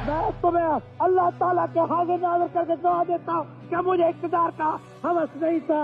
بهشت تمهين الله تعاليٰ ڪي حاضر ناظر ڪر ڪي گواهه ديتا هو ڪي مجهي اقتدار ڪا هوس نهين ٿا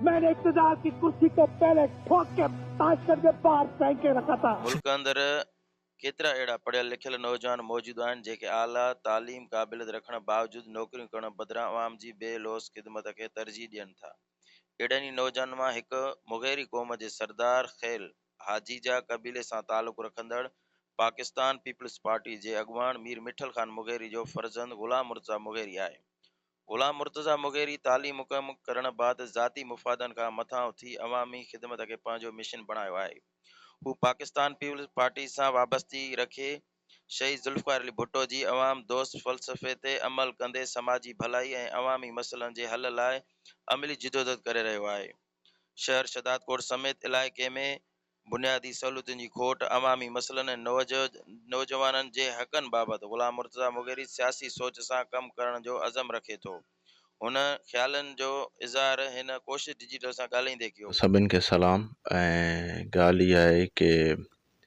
مين ني اقتدار ڪي ڪرسي ڪو پهلي ٺوڪ ڪي تاشڪن ڪي باهر ڦينڪ ڪي رکا ٿا. ملڪ اندر ڪيترا اهڙا پڙهيل لکيل نوجوان موجود آهن جيڪي اعليٰ تعليم قابليت رکڻ باوجود نوڪريون ڪرڻ بدران عوام جي بي لوث خدمت کي ترجيح ڏين ٿا اهڙن ئي نوجوانن مان هڪ مغيري قوم جي سردار خيل هاجيجا قبيلي سان تعلق رکندڙ پاڪستان پيپلز پارٽي جي اڳواڻ مير مٺل خان مغيري جو فرزند غلام مرتضيٰ مغيري آهي. غلام مرتضيٰ مغيري تعليم مڪمل ڪرڻ بعد ذاتي مفادن کان مٿان اٿي عوامي خدمت کي پنهنجو مشن بڻايو آهي. هو پاڪستان پيپلز پارٽي سان وابستگي رکي شهيد ذوالفقار علي ڀٽو جي عوام دوست فلسفي تي عمل ڪندي سماجي ڀلائي ۽ عوامي مسئلن جي حل لاء عملي جدوجھد ڪري رهيو آهي. شهر شهدادڪوٽ سميت علائقي ۾ بنيادي سهولتن جي کوٽ، عوامي مسئلن ۽ نوجوانن جي حقن بابت غلام مرتضيٰ مغيري سياسي سوچ سان ڪم ڪرڻ جو عزم رکي ٿو. هن خيالن جو اظهار هن ڪوشش ڊجيٽل سان ڳالهائيندي ڪيو. سڀن کي سلام ۽ ڳالهه اها آهي ڪي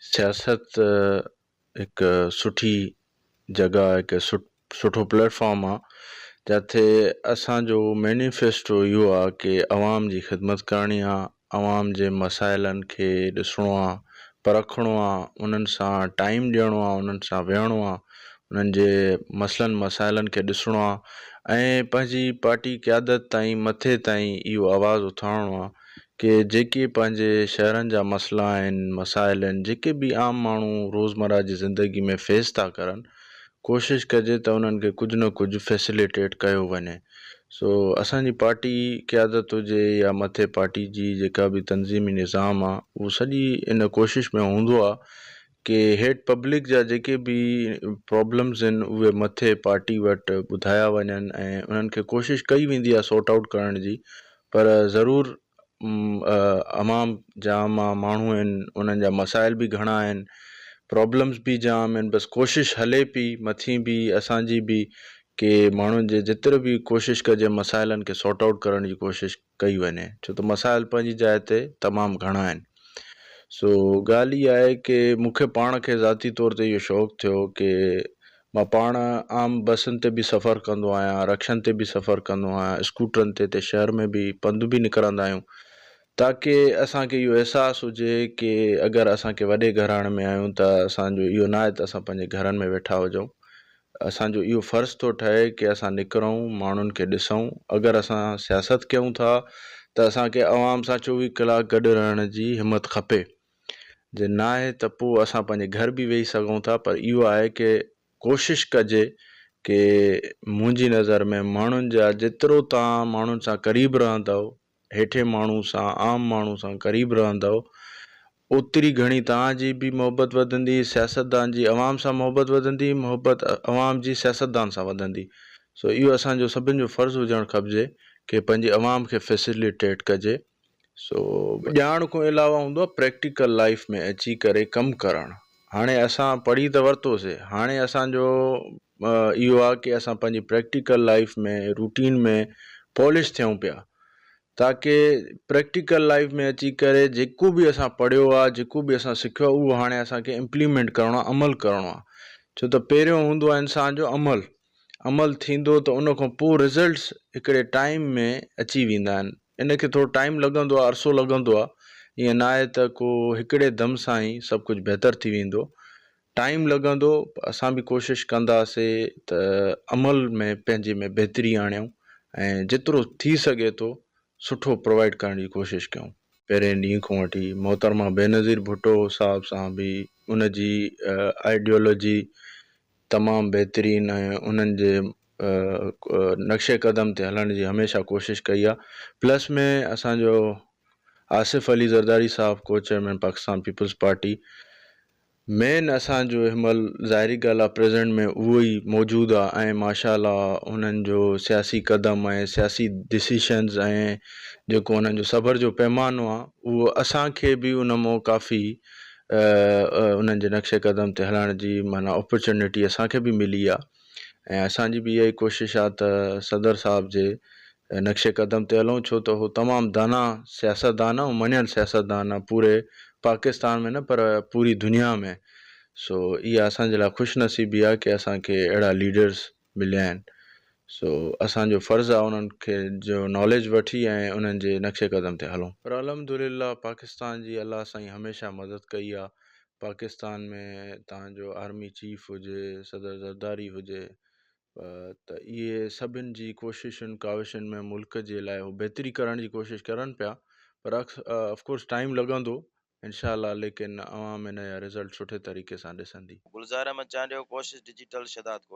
سياست هڪ سٺي جڳهه آهي هڪ سٺو پليٽ فارم آهي جتي اسانجو مينيفيسٽو اهو آهي ڪي عوام جي خدمت ڪرڻي آهي عوام جي مسائلن کي ڏسڻو آهي پرکڻو آهي انهن سان ٽائيم ڏيڻو آهي انهن سان ويهڻو آهي انهن جي مسئلن مسائلن کي ڏسڻو آهي ۽ پنهنجي پارٽي قيادت تائين مٿي تائين اهو آواز اٿارڻو آهي ڪي جيڪي پنهنجي شهرن جا مسئلا آهن، مسائل آهن، جيڪي به عام ماڻهو روزمره جي زندگي ۾ فيس ٿا ڪرن، ڪوشش ڪجي ته انهن کي ڪجهه نه ڪجهه فيسليٽيٽ ڪيو وڃي. سو اسان جي پارٽي قيادت هجي يا مٿي پارٽي جي جيڪا به تنظيمي نظام آهي اهو سڄي ان ڪوشش ۾ هوندو آهي ڪي هيڊ پبلڪ جا جيڪي به پرابلمز آهن اهي مٿي پارٽي وٽ ٻڌايا وڃن ۽ انهن کي ڪوشش ڪئي ويندي آهي سورٽ آئوٽ ڪرڻ جي پر ضرور عوام جام آ ماڻهو آهن انهن جا مسائل به گهڻا آهن پرابلمز به جام آهن بس ڪوشش هلي پئي مٿي به اسان جي به ڪي ماڻهن جي جيتري به ڪوشش ڪجي مسائلن کي سورٽ آئوٽ ڪرڻ جي ڪوشش ڪئي وڃي ڇو ته مسائل پنهنجي جاء تي تمام گهڻا آهن سو ڳالهه اها آهي ڪي مون کي پاڻ کي ذاتي طور تي اهو شوق ٿيو ڪي مان پاڻ عام بسن تي به سفر ڪندو آهيان رڪشن تي به سفر ڪندو آهيان اسڪوٽرن تي ته شهر ۾ به پنڌ به نڪرندا آهيون تاڪي اسان کي اهو احساس هجي ڪي اگر اسان ڪي وڏي گهراڻي ۾ آهيون ته اسان جو اهو نه آهي ته اسان پنهنجي گهرن ۾ ويٺا هجون اسان جو اهو فرض ٿو ٺهي ڪي اسان نڪرون ماڻهن کي ڏسون اگر اسان سياست ڪيون ٿا ته اسان کي عوام سان چوويهه ڪلاڪ گڏ رهڻ جي همت کپي جي ناهي ته پوء اسان پنهنجي گهر به ويهي سگهون ٿا پر اهو آهي ڪي ڪوشش ڪجي ڪي منهنجي نظر ۾ ماڻهن جا جيترو تان ماڻهن سان قريب رهندؤ هيٺين ماڻهو سان، عام ماڻهو سان قريب رهندؤ، اوتري گهڻي توهان جي به محبت وڌندي، سياستدان جي عوام سان محبت وڌندي، محبت عوام جي سياستدان سان وڌندي. سو اهو اسان جو سڀن جو فرض هجڻ کپجي ڪي پنهنجي عوام کي فيسيليٽيٽ ڪجي. سو. ڄاڻ کان علاوه هوندو آهي پريڪٽيڪل لائيف ۾ اچي ڪري ڪم ڪرڻ. هاڻي اسان پڙهي ته ورتوسي، هاڻي اسان جو اهو آهي ڪي اسان پنهنجي پريڪٽيڪل لائيف ۾ روٽين ۾ پالش ٿيون پيا تاڪي پريڪٽيڪل لائيف ۾ اچي ڪري جيڪو به اسان پڙهيو آهي جيڪو به اسان سکيو آهي اهو هاڻي اسان کي امپليمينٽ ڪرڻو آهي عمل ڪرڻو آهي ڇو ته پهريون هوندو آهي انسان جو عمل عمل ٿيندو ته ان کان پوء رزلٽس هڪڙي ٽائيم ۾ اچي ويندا آهن ان کي ٿورو ٽائيم لڳندو آهي عرصو لڳندو آهي ائين ناهي ته ڪو هڪڙي دم سان ئي سڀ ڪجهه بهتر ٿي ويندو ٽائيم لڳندو اسان به ڪوشش ڪنداسي ته عمل ۾ پنهنجي ۾ بهتري آڻيون ۽ جيترو ٿي سگهي ٿو سٺو پرووائيڊ ڪرڻ جي ڪوشش ڪيون. پهرين ڏينهن کان وٺي محترمه بينظير ڀٽو صاحب سان به ان جي آئيڊيولوجي تمام بهترين ۽ انهن جي نقش قدم تي هلڻ جي هميشه ڪوشش ڪئي آ پلس ۾ اسان جو آصف علي زرداري صاحب ڪوچيئرمين پاڪستان پيپلز پارٽي مين اسان جو اهمل ظاهري ڳالهه آ پريزنٽ ۾ اهو ئي موجود آ ۽ ماشاءالله انهن جو سياسي قدم ۽ سياسي ڊسيشنز ۽ جيڪو انهن جو صبر جو پيمانو آ اهو اسان کي به ان مون ڪافي انهن جي نقش قدم تي هلڻ جي معنيٰ اپرچونيٽي اسان کي به ملي آ. ۽ اسان جي به اها ئي ڪوشش آهي ته صدر صاحب جي نقش قدم تي هلون ڇو ته هو تمام داناء سياستدان ۽ مڃيل سياستدان آهي پوري پاڪستان ۾ نه پر پوري دنيا ۾ سو اها اسان جي لاء خوش نصيبي آهي ڪي اسان کي اهڙا ليڊرز مليا آهن سو اسان جو فرض آهي انهن کي جو ناليج وٺي ۽ انهن جي نقش قدم تي هلون. پر الحمدلله پاڪستان جي الله سائين هميشه مدد ڪئي آهي پاڪستان ۾ تان جو آرمي چيف هجي صدر زرداري هجي ته اهي سڀن جي ڪوششن ڪاوشن ۾ ملڪ جي لاء هو بهتري ڪرڻ جي ڪوشش ڪرن پيا پر افڪورس ٽائيم لڳندو انشاء الله ليڪن عوام هن جا رزلٽ سٺي طريقي سان ڏسندي. گلزار احمد چانڊيو ڪوشش ڊجيٽل شھدادڪوٽ.